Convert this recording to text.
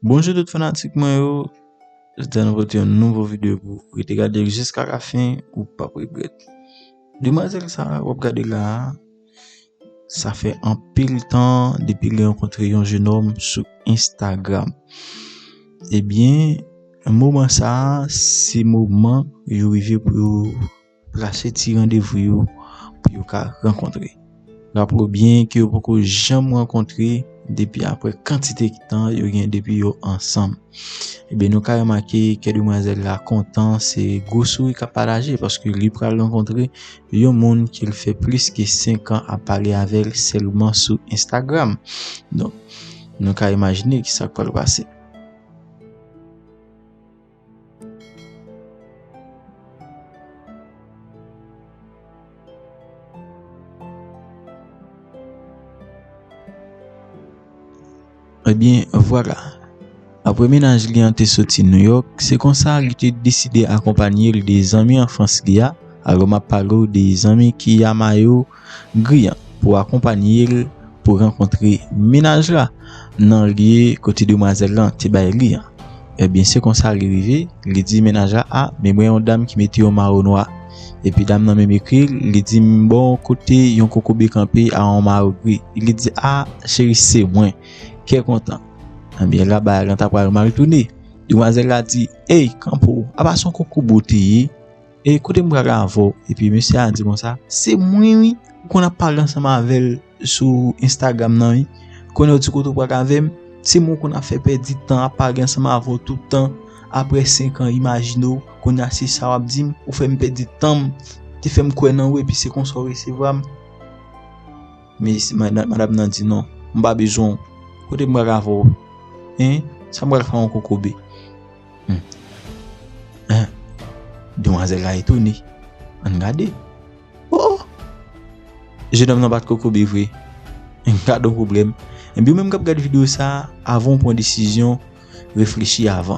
Bonjou tout fanatik mwen yo, jodi a nou pote yon nouvo video pou ou, rete gade l jiska la fin ou pap regrèt. Demwazèl sa a wap gade la a, sa fè anpil tan depi li rankontre yon jenòm sou Instagram. Ebyen moman sa a se moman yo rive pou yo Plase ti randevou yo pou yo ka rankontre. Raple w byen ke yo poko janm rankontre depi apre kantite tan yo gen depi yo ansanm. Ebyen nou ka remake kè demwazèl la kontan se gwo souri kap pataje paske li pral rankontre yon moun ke l fè plis ke 5 an ap pale avè l sèlman sou Instagram. Donk nou ka imajine kisak pral pase. Ebyen vwala, apre menaj li an te soti Nouyòk, se konsa li te deside akonpanye l de zanmi anfans li a, alò m ap pale w de zanmi Kiyama yo, Griyan pou akonpanye l pou rankontre mennaj la nan lye kote demwazèl lan te bay li an. Ebyen se konsa li rive, li di mennaj la a men mwen yon dam ki mete yon maro nwa. Epi dam nan menm ekri l, li di m bon kote yon kokobe kanpe a yon maro gri. Li di a cheri se mwen. Kè kontan. Ebyen la bagay lan ta pral mal tounen. Demwazèl la di ey kanpe w, apa se yon kokobe w te ye? E kote m pral avè w? Epi mesye a di konsa, Se mwen wi, ou konn ap pale ansanm avè l sou Instagram nan wi. Kounye a ou di kote ou pral avè m? Se mwen ou konn ap fè pèdi tan, ap pale ansanm avè w tout tan. Aprè senkan, imajine w, kounye a se sa w ap di m? Ou fè m pèdi tan m, te fè m kwè nan ou epi se konsa ou resevwa m? Mesye, madam nan di, Non, m pa bezwen w. Kote m pral avè w? Hein? Sa m pral fè ak yon kokobe? Hum Demwazel la etone Ann gade Oh Jenòm nan bat kokobe vre Gad on pwoblèm Ebyen ou menm kap gad video sa avan ou pran desizyon reflechi avan.